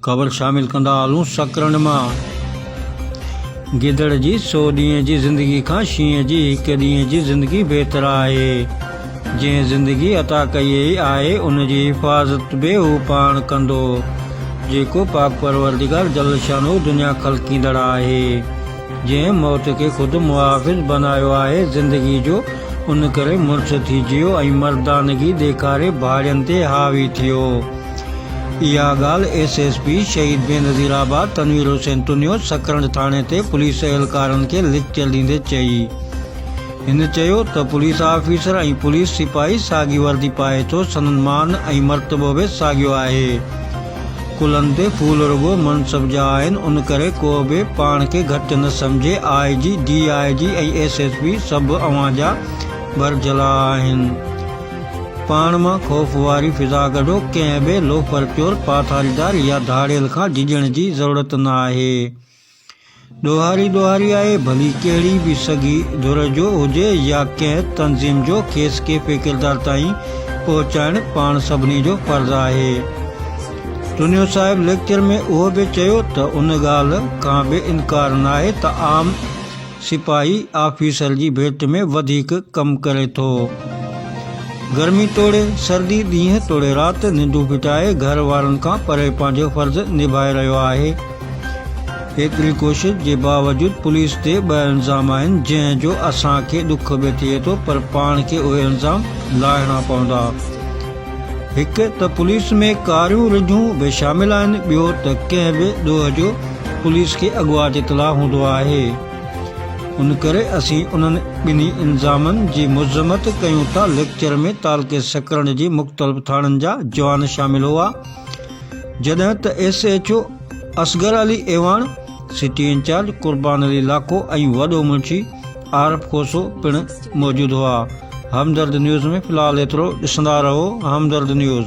خبر شامل ڪندا هلون سڪرنڊ مان گدڙ جي سو ڏينهن جي زندگي کان شينهن جي هڪ ڏينهن جي زندگي بهتر آهي جنهن زندگي عطا ڪئي آهي ان جي حفاظت به هو پاڻ ڪندو جيڪو پاڪ پروردگار جل شانو دنيا خلقيندڙ آهي جنهن موت کي خود محافظ بنايو آهي زندگي جو، ان ڪري مڙس ٿي جيو ۽ مردانگي ڏيکاري ڀاڙين تي حاوي ٿيو. اها ڳالهه S S P Shaheed Benazir آباد تنوير حسين تنيو سڪرنڊ ٿاڻي تي پوليس اهلڪارن کي ليڪچر ڏيندي چئي. هن چيو ته پوليس آفيسر ۽ پوليس سپاهي ساڳي وردي پائي ٿو سندن مان ۽ مرتبو به ساڳيو آهي. ڪلن تي ڦول رڳو منصب جا آهن ان ڪري ڪو به پاڻ کي گهٽ نه سمجهي I G D I G ۽ S S P سڀ اوهان جا ڀرجهلا آهن پاڻ مان خوف واري فضا ڪڍو ڪنهن به لوفر چور پاٿاريدار يا ڌاڙيل کان ڊڄڻ جي ضرورت نه آهي. ڏوهاري ڏوهاري آهي، ڀلي ڪهڙي به سگهي ڌر جو هجي يا ڪنهن تنظيم جو، کيس ڪيفي ڪردار تائين پهچائڻ پاڻ سڀني جو فرض آهي. چنيو صاحب ليڪچر ۾ اهو به چيو ته ان ڳالهه کان به انڪار ناهي ته عام. سپاهي آفيسر جي ڀيٽ ۾ وڌيڪ ڪم ڪري ٿو. گرمي توڙي سردي، ڏينهن توڙي رات، ننڊون ڦٽائي گهر وارن کان پري پنهنجو فرض نڀائي رهيو آهي. ايتري ڪوشش جي باوجود پوليس تي ٻه الزام آهن، جنهن جو اسان کي ڏک به ٿئي ٿو پر پاڻ کي اهي الزام لاهڻا پوندا. هڪ ته پوليس ۾ ڪاريون رجون به شامل آهن ٻيو ته ڪنهن به ڏوهه جو پوليس کي اڳواٽ اطلاع هوندو آهي ان ڪري اسين انهن ٻنهي الزامن جي مذمت ڪيون ٿا ليڪچر ۾ تعلقي سڪرنڊ جي مختلف ٿاڻن جا جوان شامل هئا جڏهن ته S H O Asghar Ali Awan city in charge Qurban Ali Lakho ۽ وڏو منشي عارف کوسو پڻ موجود هئا همدرد نيوز ۾ في الحال ايترو ڏسندا رهو همدرد نيوز.